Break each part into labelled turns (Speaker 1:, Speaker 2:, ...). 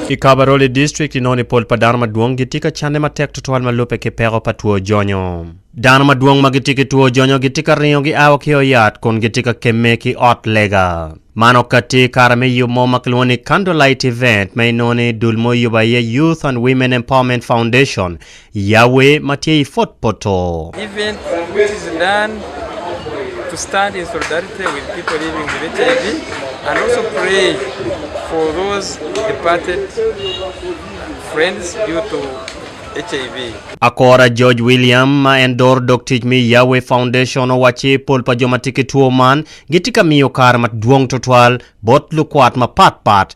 Speaker 1: I Kabarole District inongo ni pol pa dano madwong gitye ka canne matek tutwal ma lubbe ki peko pa two jonyo. Dano madwong ma gitye ki two jonyo gitye ka ringo gia wa ki ot yat kun gitye ka kemme ki ot lega. Man okatti i kare me yub mo ma kilwongo ni Candlelight Event ma inongo ni dul mo oyubo aye Youth and Women Empowerment Foundation Yawe ma tye i
Speaker 2: pwod poto. Akora
Speaker 1: George William ma en doro dog tic me Yawe Foundation owacci pol pa jo ma tye ki two man gitye ka miyo kare madwong tutwal bot lukwat mapatpat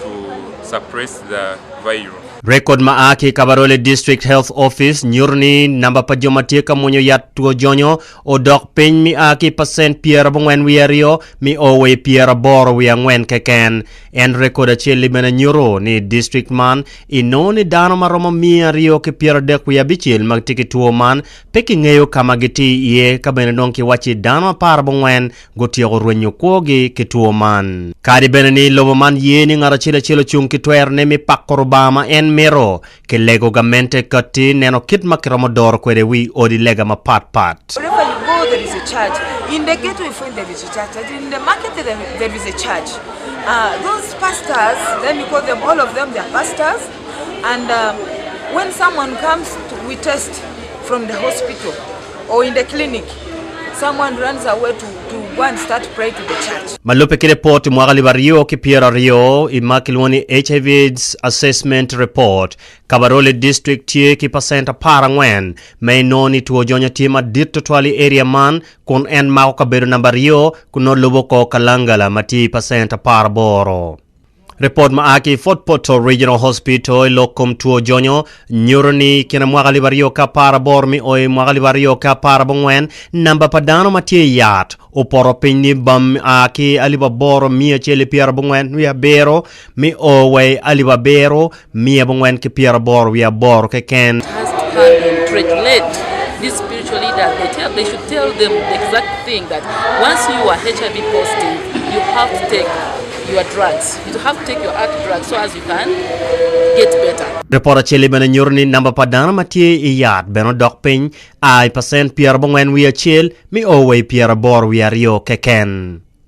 Speaker 3: to suppress the virus. Rekod ma a ki
Speaker 1: i Kabarole District Health Office nyuto ni namba pa jo ma tye ka mwonyo yat two jonyo odok piny mi a ki pacent pyerabongwen wiye aryo mi o wa i pyeraboro wiye angwen keken. En rekod acel-li bene nyuto ni i district man inongo ni dano ma romo miya aryo ki pyeradek wiye abicel ma gitye ki two man pe kingeyo ka ma gitye iye ka bene dong kiwacci dano aparabongwen gutyeko rwenyo kwogi ki two man. Kadi bene ni lobo man ye ni ngat acel acel ocung ki twerone me pako Rubanga ma en mito, kilego gamente kati neno kit ma kiromo doro kwede wi odi lega mapat pat.
Speaker 4: Ma lubbe ki lipot mwaka
Speaker 1: alip aryo ki pyero aryo i ma kilwongo ni HIV AIDS Assessment Report, Kabarole District tye ki pacent apar angwen ma inongo ni two jonya tye madit tutwal i area man kun en mako kabedo namba aryo kun nongo lubo kor Kalangala ma tye i pacent apar aboro. Ripot ma a ki i Fort Portal Regional Hospital i lok kom two jonyo nyuto ni i kine mwaka alip aryo ki apar aboro mi o i mwaka alip aryo ki apar abongwen, namba pa dano ma tye i yat opoto piny ni bam a ki alip aboro miya acel ki pyera abongwen wi abiro mi o wa i alip abiro Miya abongwen ki pyera aboro wiye aboro keken.
Speaker 5: Ripot acel-li bene
Speaker 1: nyuto ni namba pa dano ma tye i yat bene odok piny a i pacent pyera abongwen wiye acel mi o wa i pyera aboro wiye aryo keken.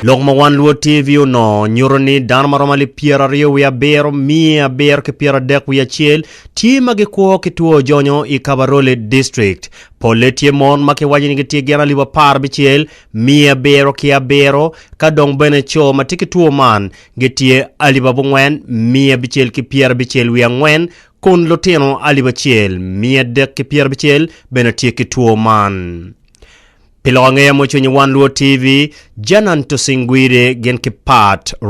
Speaker 6: Lok ma One Luo
Speaker 1: TV onongo nyuto ni dano ma romo alip pyeraryo wiye abiro, miya abiro ki pyeradek wiye acel tye ma gikwo ki two ojonyo i Kabarole District. Polle tye mon ma kiwaco ni gitye gin alip apar abicel, miya abiro ki abiro, ka dong bene co ma tye ki two man gitye alip abongwen, miya abicel ki pyerabicel wiye angwen, kun lutino alip acel, miya adek ki pyerabicel bene tye ki two man. Pi lok angeya mucwiny i Wan Luo TV, Janan Tusingwire gin ki Part.